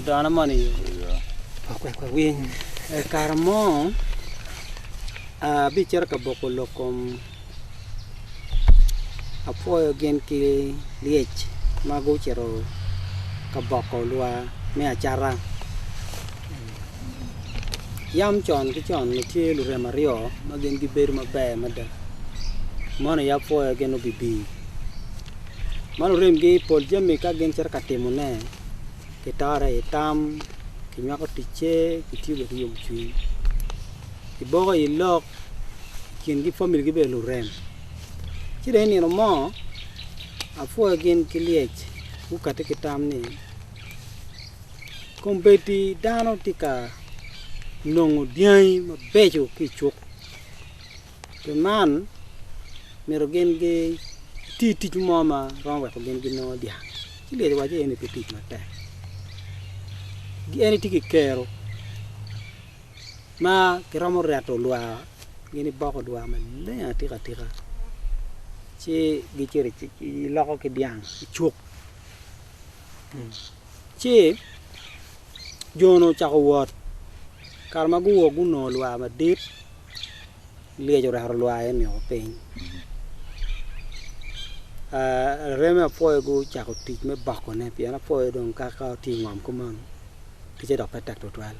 Dano moni okweko winy i kare mo abicito ka boko lok kom apwoyo gin ki lyec ma gucito ka boko lwar me acata. Yam con ki con nitye lurem aryo ma gin gibedo maber mada, mono aye apwoyo gin obibi. Ma luremgi i pol jami ka gin cito ka timone, gitore i tam, ginywako ticce, gitye bene ki yomcwiny. Giboko i lok, kingi familigi bene lurem. Ci dong i nino mo, apwoyo gin ki lyec, gukati ki tam ni. Kombeddi dano tye ka nongo dyangi mabeco ki i cuk. Pi man myero gin giti tic mo ma romo weko gin ginongo dyang. Ci lyeci wacci eni pe tic matek. En etye ki kero ma kiromo reto lwa gin iboko lwa maleng atika tika ci gicito giloko ki dyang i cuk. Ci jo-nu ocako wot. Kare ma guwok gunongo lwar madit, lyec orato lwar en nio piny. Areme apwoyo gucako tic me bokone pien apwoyo dong kaka tye ingom kumeno ticce dok pe tek tutwal.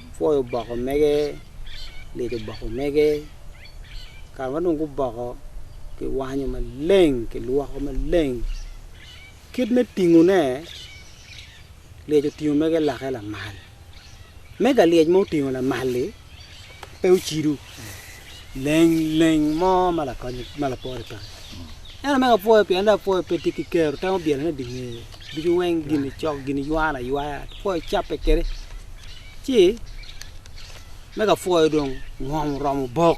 Apwoyo oboko mege, lyec oboko mege. Kare ma dong guboko, kiwanyo maleng, kilwoko maleng. Kit me tingone, Lyec otingo mege lake lamal. Mega lyec ma otingo lamal-li pe ocido leng leng mo ma lakony ma lapore pe iye. Ento mega pwoyo pien dong apwoyo pe tye ki kero, temo byelone di nge ducu weng gin-ni cok, gin-ni ywana aywaya, apwoyo cabbe kwede. Ci mega pwoyo dong ngom oromo obok.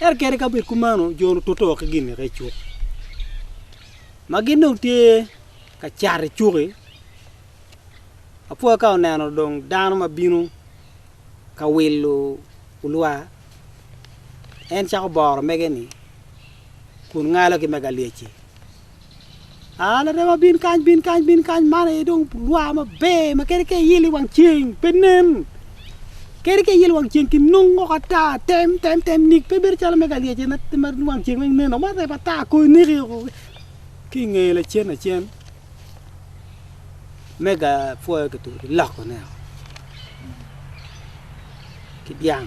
Ento kadi ka bed kumeno, jo-ni otute woko ki gin-ni ka icuk. Ma gin dong tye ka cat i cuki, apwa ka oneno dong dano ma bino ka wilo olwa, en cako boro mege-ni kun ngalo ki mege alyec-ci, aa larewa bin kany bin kany bin kany, man aye dong olwa maber ma kadi ka iyelo i wang ceng pe nen. Kadi ka iyelo wang ceng ki nung woko ata, tem, tem, tem nik. Pe bedo calo me ka lyecce ma, ma wang ceng weng neno, ma rep ata ko ineki woko ki i ngeye lacen lacen. Me ka pwoyo kitubo ki lokone woko ki dyang.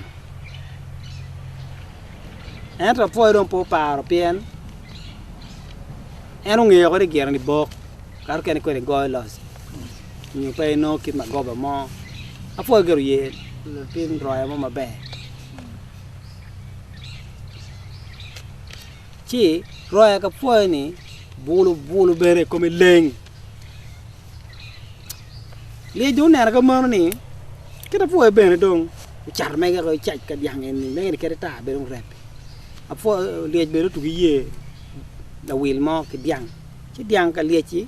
Ento apwoyo dong pe oparo pien en ongeyo woko ni gire ni bok, kato kene kwede goyo loc. nyo pe inongo kit magoba mo. Apwoyo gire oye latin roya mo maber. Ci roya ka pwoyo ni bulu bulu bene kome leng. Lyec dong oneno ka mano ni kit apwoyo bene dong ocato mege ko icac ka dyang eni mege ni kadi tar bedo rep. Apwoyo lyec bene otugo iye lawil mo ki dyang ci dyang ka lyec-ci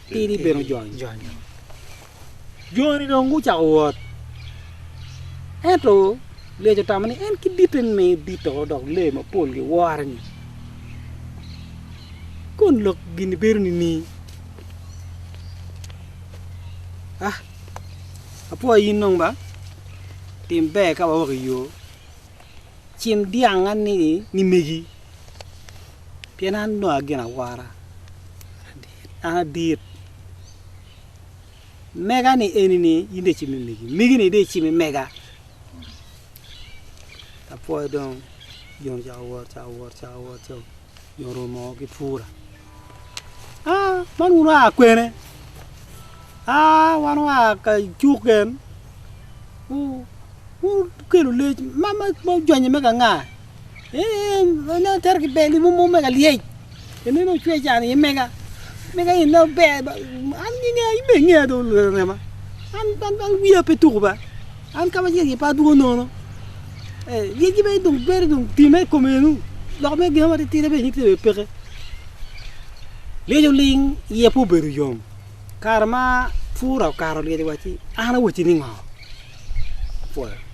Tidi bene ojonyo. Jo-ni dong gucako wot. Ento lyec otamo ni en ki ditte ni miyo dito dok lee mapol giwore-ni. Kun lok gin-ni bedo nining? A Apwoya in dong ba, tim ber ka wawok i yo. Cim dyang anni ni megi, pien an dong agin awora. Adit. Mega ni eni ni in de cimi megi. Megi ni de cimi mega. Apwoyo dong. Jon cako wot, cako wot, cako wot, cako wot. Jon rumo ki pura. Ah, man wun waa kwene. Ah, wan waa ka cuk gen. Wun kelu lec, ma ma jonye mega nga. En onongo otero ki bel mo mo mega lyec, en onongo ocwe can iye mega, mega en onongo ber, an ingeya in bene ingeya dong rema, an an an wiya pe tuku ba, an ka macel aye pe adwogo nono, eh lyeci bene dong bedo dong timme i kome enu, lok me gin mo matitidi bene nyutte bene peke, lyec oling iye pe obedo yom, kare ma pura okato lyec owaco ni an awacci ni ngo, apwoyo.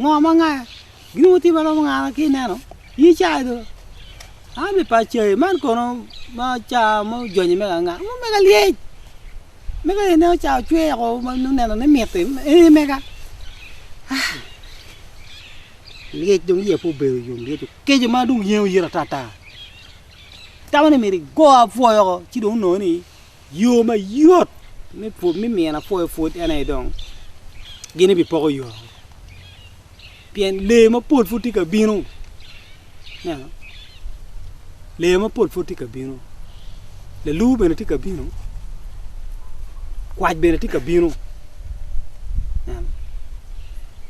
Ngo ma ngaya? Ginongo tim maromo nga ma kineno ye cai do an be pa cai man kono ma caa ma ojonyo mega anga ma omega lyec mega eni ineno caa ocwer o ma noneno ni miti eni mega aah lyec dong iya pe obedo yom lyec okeco ma dong yengo ita ata itamo ni myero igo apwoyo oko ci dong onongo ni. Yo mayot me miyo lapwoyo pwod en aye dong gin ebipoko yo woko pien lee mapol pud tye ka bino, ineno lee mapol pud tye ka bino, lalur bene tye ka bino, kwac bene tye ka bino.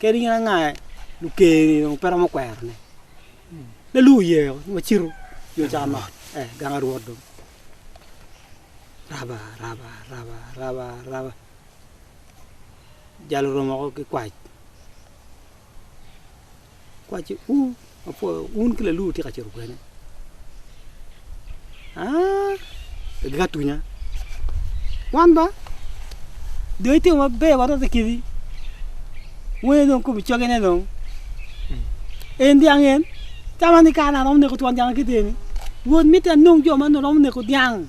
Kadi in anga lukerni dong pe romo kwerone. Laluwo ye o, ma cito yo ca mot. Eh, gang arwot dong. Raba, raba, raba, raba, raba. Jalo romo ko ki kwac. Kwac u. Apwoyo un ki lalur tye ka cito kwene aa gika tunya wan ba dong itimo maber wa rote kidi wene dong kobi coge ne dong en dyang en tama ni kara na romo neko twon dyang akite ni wod mitte anong jo ma romo neko dyang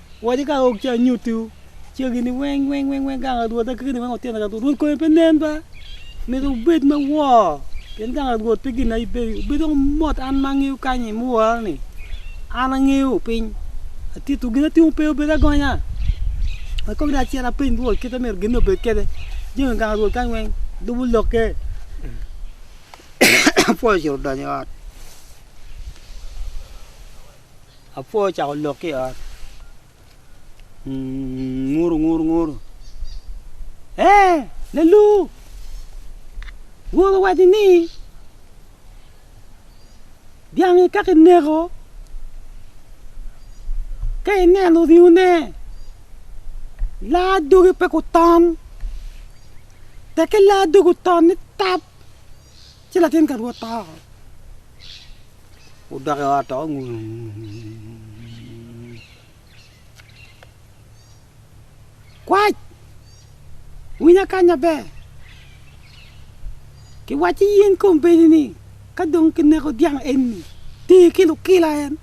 Waci ka ok ci anyuttiwu cegini weng weng weng weng gang Rwot a kekeni weng otyene ka tung. Rwot konye pe nen ba? Myero wubed me wor, pien gang Rwot pe gin aye bedo. Wubed dong mot an ma angeyo kany i murra-ni. An angeyo piny, atittiwu gin atimo pe obedo agonya. Pe kong dong acit apeny Rwot kit ma myero ginni obed kwede. Jami gang Rwot kany weng lubo lokke. Apwoyo ocito odonyo i ot. Apwo ocako lok ki i ot. Nguru, nguru, nguru. Ee, lalu! Woro wacci ni dyangi ka kineko, ka ineno ringone, laa doge pe guton. Tek ki laa doge oton ni tap. Ci latin ka Rwot to, wudok i ot to kwac, winya kany maber, kiwacci in kombeddi ni, Ka dong kineko dyang enni, ti ki lukila en.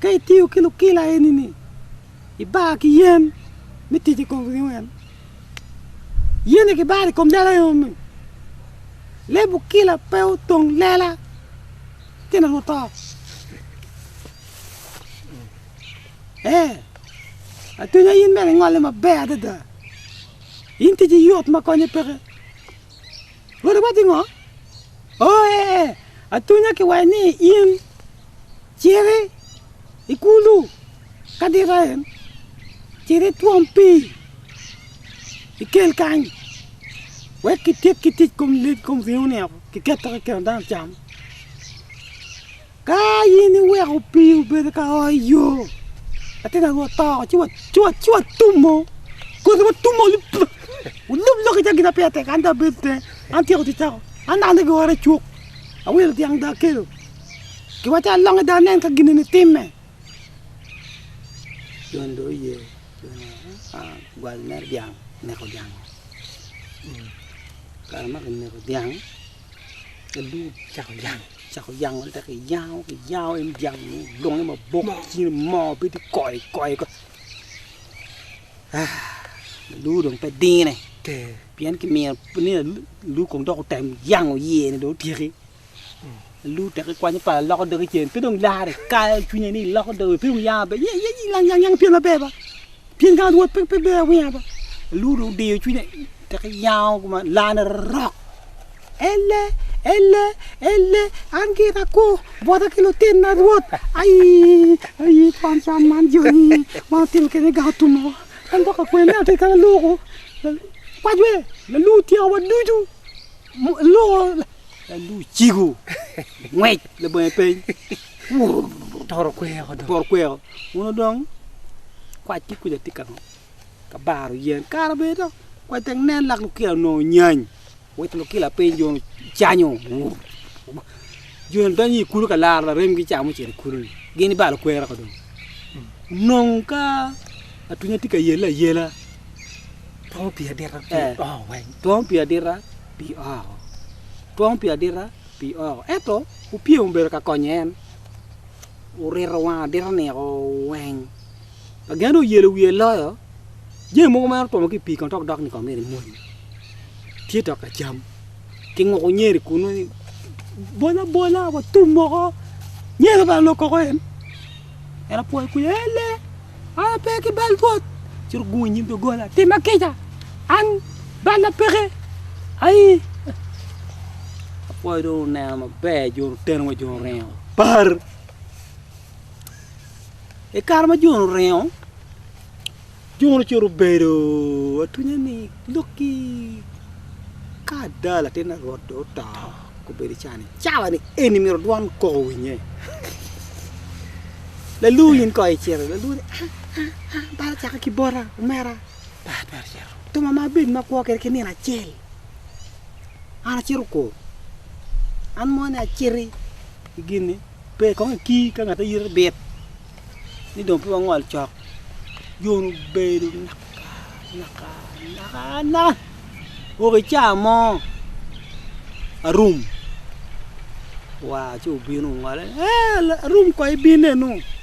Ka itiyo ki lukila eni-ni, ibaa ki yen me tic i kom liwem. Yen-ni kibaro i kom lela enoni. Leb okila pe otong lela tyen onongo to. Ee, atwenya in bene ingolle maber adada. In ticci yot ma konye peke. Rwot iwacci ngo? Ooee, atunya ki wai ni in citi i kulu ka dita en, cit itwom pii ikel kany wek kityek ki tic kom leb kom ringo-ni woko kiketo ki keno dano cam. Ka in iweko pii obedo ka oo i yo, latin aye watoko ci watumo kodi watumo wulub lok iye gin ma peya tek an dong abedo i tenge an atyeko ticca woko an dong adok i ora icuk awilo dyang dong akelo gin macalo alonge dong anen ka gin eni timme. Cako yango adada ki yango ki yango en yango ni longe mabok cin mo bedo koi koi ko lulu dong pe dine pien ki miyo ni lulu kong dok otem yango iye ni dong otyeki lulu tek ikwanyo pala loko dogi cen pe dong lare kayo cwinye ni loko dogi pe dong yango be ye ye yang yang yang pien maber ba pien ka rwot pe pe ber awinga ba lulu dong odiyo cwinye tek iyango kuma lane rok Ele, ele, ele, an gira kwo bwota ki lutinna Rwot. Ai, ai, kwan can man joni ma atimo kene ga otumo. An dok akwer ni atye kala loko. Kwajwe, lalu tyekowa ducu. Mo- Loko, lalu ciko, ngwec, labonge peny. Wurr, Toro kweko dong. toro kweko. Uno dong, kwac ki kuca tye kama. ka baro yen kara bene dok wek nen lak lukila onongo nyany wek lukila piny jo canyo jo ni donyo i kulu ka laro larem gi ca mucito i kulu ni gin ibalo kwero ka dong nong ka atunya tye ka yelle ayela twongo pii adita pi Eh. oo weng twongo pii adita pi oo twongo pii adita pi oo ento opyem obedo ka konyo en orito wang adita niko weng Ma gen oyelo wiye loyo jami mogo ma en otwomo ki i pii kono dok dok ni kong myero imony. Tye dok ka cam. Kinguko nyeri kunu ni bol abola watum moko. Nyeri obalo lok koko en. En apwoyo kwija ni ele an ape ki bal bwot. Ci ogungo i nyim doggola timma kica an balla peke aii. Apwoyo dong oneno maber jo oteno wa jo oringo par. I kare ma Jon oringo, Jon ocito obedo atwinya ni lok ki ka ada latin Herode dong oto, gubedo cawa ni eni myero dwan kok owinye. Lalur in kong icito, lalur ni a a a bal ocako ki bota omera, thum ma abed ma akwo kwede ki nino acel, an acito kwo, an moni aciti. ki gin-ni, pe kong ikii ka ngat ayiti bit ni dong pe wangol cok. Jon obedo naka naka naka naka woko i caa mo arum, waa ci obino ongole, Ee, arum kong ibin eno.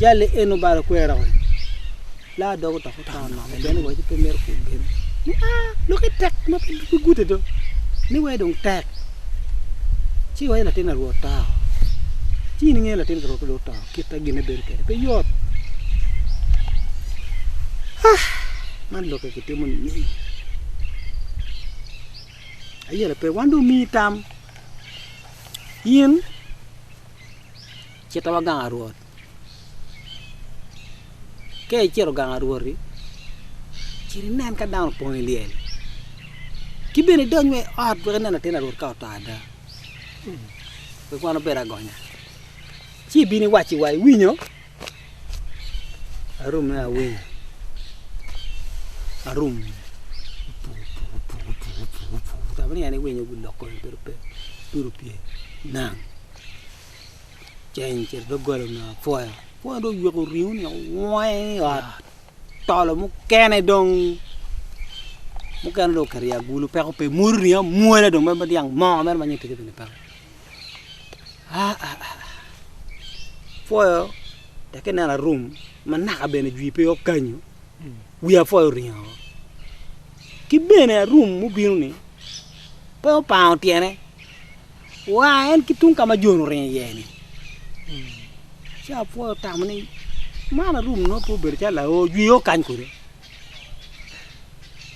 Jali en obalo kwera kong. La dog otok oto nok pien waci pe mito kwo gen. Ni a loki tek ma pe pe gute do. Ni wai dong tek. Ci waci latin arwo oto. Ci in ingeyo latin arwo do oto kita gine bedo kede pe yot. Ah, man loki kitimo ni nying. Ayele pe wan do mi tam. In cito wa gang arwot. Ka icito gang arwoti, cit inen ka dano opong i lyel. Ki bene idony wa i ot wek inen latin arwot ka oto ada. Wek wan obed agonya. Ci ibin iwacci wa, iwinyo? Arume awiny arum kama niang ni winyo guloko bedo pe tye opye nang ceng ocito dogola onongo apwoyo apwoyo dong oywek oringo ni weng i ot tolo mukene dong mukene dong oketo i agulu peko pe mwodi oringo amwoda dong ma dyang mo mere ma nyo tike bene peke. Apwoyo teke neno arum ma naka bene jwi pe okanyo wi apwoyo oringo woko. Ki bene arum mubino ni pe opango tyene wa en ki tung ka ma Jon oringo iye ni. Ci apwoyo otamo ni man arum nongo pe obedo calo laor jwi okany kwede.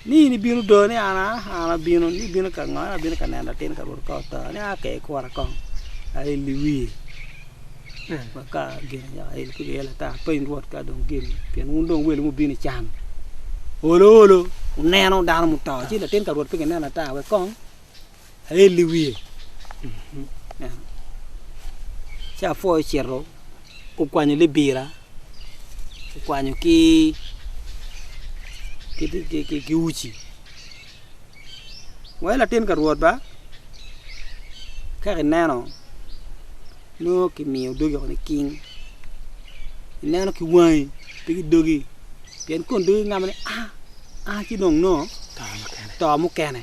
ni in ibino do ni an aa an abino ni ibino ka ngo ni abino ka neno latin ka rwot ka oto ni aa ka ikura kong aye i wiye ma ka gin anyaka en kong iye lata piny rwot ka dong gin pien wun dong welo mubino i can olo olo wuneno dano muto ci latin ka rwot pe gineno ata wek kong ael i wiye. Ci apwoyo ocito okwanyo libira, okwanyo ki ki uci. Wa i latin pa Rwot ba, ka kineno nongo kimiyo dogi woko niking, ineno ki wangi pe ki dogi pien kong dogi gingamo ni aa aa ci dong nongo to mukene.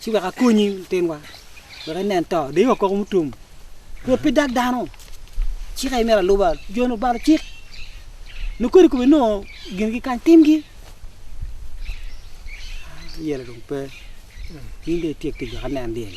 ci wek akonyi litinwa wek inen to dii wa koko mutum pwod pe dag dano ci ka imito aluba joni obalo cik nongo kodi kome nongo gingi kany timgi yelo dong pe in dong ityek tic wek inen dyel.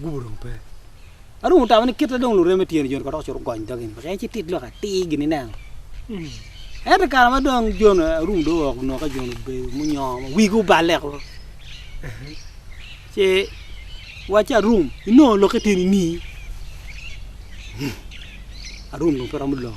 gubo dong pe. Adong otamo ni kite dong lureme tye ni Jon kadok cito gony dogi peke en ci tit lok atir gini neno. Ento kare ma dong Jon arum dong owok nongo ka Jon obedo munyongo wigi oballe ko. Ce wacce arum inongo lokke tye ni nii. Arum dong pe romo lok.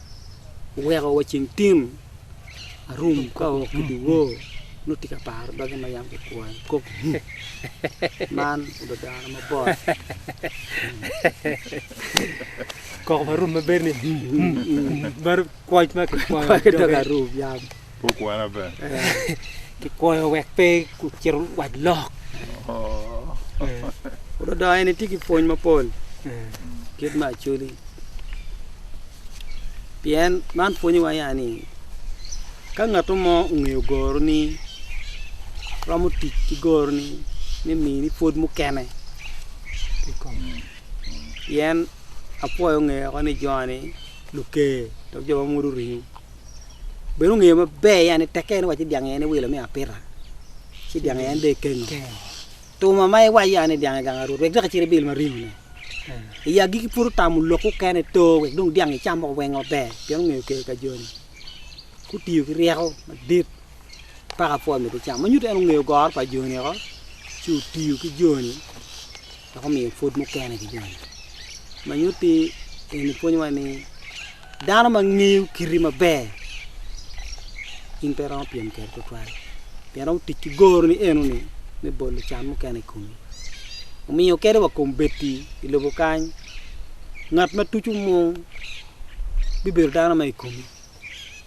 oweko wa ceng tin arum ka oo ki dye wor nongo atye ka paro doge ma yam kikwoyo kop man obedo dano mabor koko ma arum ma bedo ni kwoc ma kikwoyo ki doge arum yam Kikwoyo wek pe kucit wac lok. Puro dong en itye ki pwony mapol kit me Acholi. Pien man pwonyowa ya ni ka ngat mo ongeyo goroni romo tic ki goroni me mini pwod mukene. Pien apwoyo ngeyoko ni jo-ni luker dok jo ma mwodo ringo. bene ongeyo maber ya ni tekke en wac ni dyang-nge en iwilo me apita, ci dyang-nge en dong ikengo. Tuma ma iwac ya ni dyang-nge gang arut, wek dok icit ibil ma ringone. I agikki pud otamo lok mukene to wek dong dyang-nge icam moko weng maber, pien ongeyo kelo ka joni. Gutiyo ki ryeko madit paka pwod mito cam. Ma nyuto en ongeyo goro pa joni oko, ci otiyo ki joni. dok omiyo pwod mukene ki joni. Ma nyutti eni pwonyowa ni dano ma ngeyo kiti maber in pe iromo pyem kwede tutwal pien romo tic ki goroni enoni me bolo can mukene i komi. Omiyo kadi wa kombeddi i lobo kany ngat ma tuco mung bibedo dano ma i komi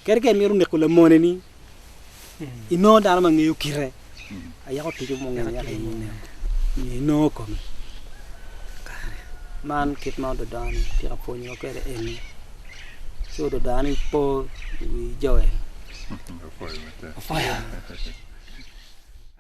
kadi ka imito neko lamoneni inongo dano ma ngeyo kite ayako tico mo ngene yaka inongo inongo komi kare man kit ma ododani tye ka pwonyowa kwede eni ci ododani po i wi Joel.